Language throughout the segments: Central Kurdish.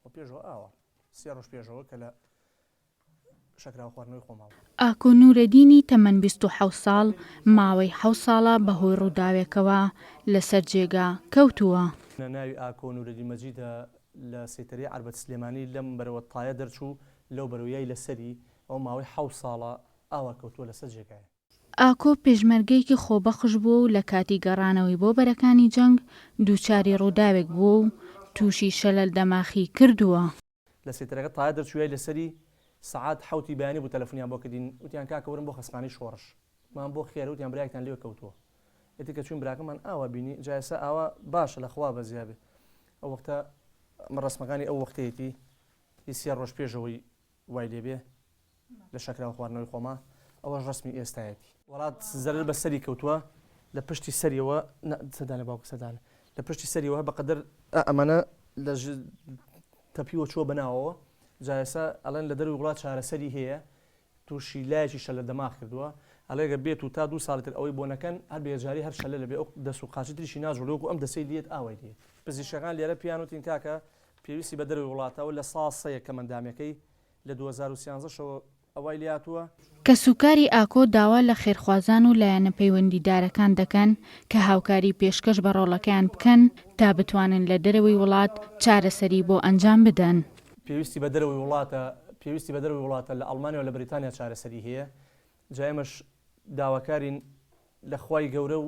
وە پێشەوە ئاوە سێ ڕۆژ پێشەوە کە لە شەکراوە خواردنەوەی خۆماوە. ئاکۆ نورەدینی تەمەن بیست و حەوت ساڵ ماوەی حەوت ساڵە بەهۆی ڕووداوێکەوە لەسەر جێگا کەوتووە. ناوی ئاکۆ نورەدین مەجیدە لە سەیتەرەی عەربەت سلێمانی لەم بەرەوە تایە دەرچوو لەو بەرەوە یای لەسەری ئەو ماوەی حەوت ساڵە ئاوا کەوتووە لەسەر جێگای. ئاکۆ پێشمەرگەیەکی خۆبەخش بووە و لە کاتی گەڕانەوەی بۆ بەرەکانی جەنگ دووچاری ڕووداوێک بووە و تووشی شەلەل دەماخی کردووە. لە سێتەرەکە تایە دەرچوویای لەسەری سەعات حەوتی بەیانی بوو تەلەفونیان بۆ کردین وتیان کاکە ورن بۆ خەسمانی شۆڕش وتمان بۆ خێرە وتیان برایەکتان لەوێ کەوتووە ئیتر کە چووین براکەمان ئاوا بینی جا ئێستا ئاوا باشە لە خوا بەزیابێ ئەو وەختە ئەمە ڕەسمەکانی ئەو وەختەیەتی هی سێ ڕۆژ پێش ئەوەی وای لێ بێ لە شەکراو خواردنەوەی خۆما ئەوەش ڕەسمی ئێستایەتی. وەڵات زەرەر بە سەری کەوتوە لە پشتی سەریەوە نا سەردانە باوکە سەردانە لە پشتی سەریەوە بە قەدەر ئا ئەمانە لە ژ تەپیوە چوە بە ناوەوە جا ئێسا ئەڵێن لە دەروی وڵات چارەسەری هەیە توشی لایەکی شەلە دەماغ کردوە ئەڵێ گەر بێتو تا دوو ساڵی تر ئەوەی بۆ نەکەن هەر بە یەکجاری هەر شەلە لەبێ ئەو دەس و قاچی تریشی ناجوڵێ وەکو ئەم دەسەی لێت ئاوای لێ پزیشکەکان لێرە پێیان وتین کاکە پێویستی بە دەرەوەی وڵاتە و لە ساڵ سە یەکەم ئەندامێکەی لە دوو هەزار و سیانزە شەوە ئەوای لێهاتووە. کەسوکاری ئاکۆ داوا لە خێرخوازان و لایەنە پەیوەندیدارەکان دەکەن کە هاوکاری پێشکەش بە ڕۆڵەکەیان بکەن تا بتوانن لە دەرەوەی وڵات چارەسەری بۆ ئەنجام بدەن. پێویستی بە دەرەوەی وڵاتە پێویستی بە دەرەوەی وڵاتە لە ئەڵمانیا و لە بەریتانیا چارەسەری هەیە جا ئێمەش داواکارین لە خوای گەورە و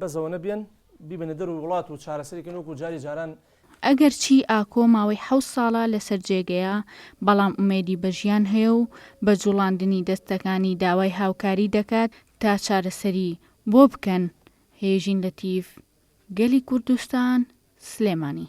بەزەوە نەبێن بیبەنە دەروی وڵات و چارەسەری کەن وەکو جاری جاران. ئەگەر چی ئاکۆ ماوەی حەوت ساڵە لەسەر جێگەیە، بەڵام ئومێدی بە ژیان هەیە و بە جوڵاندنی دەستەکانی داوای هاوکاری دەکات تا چارەسەری بۆ بکەن هێژین لەتیف گەلی کوردستان سلێمانی.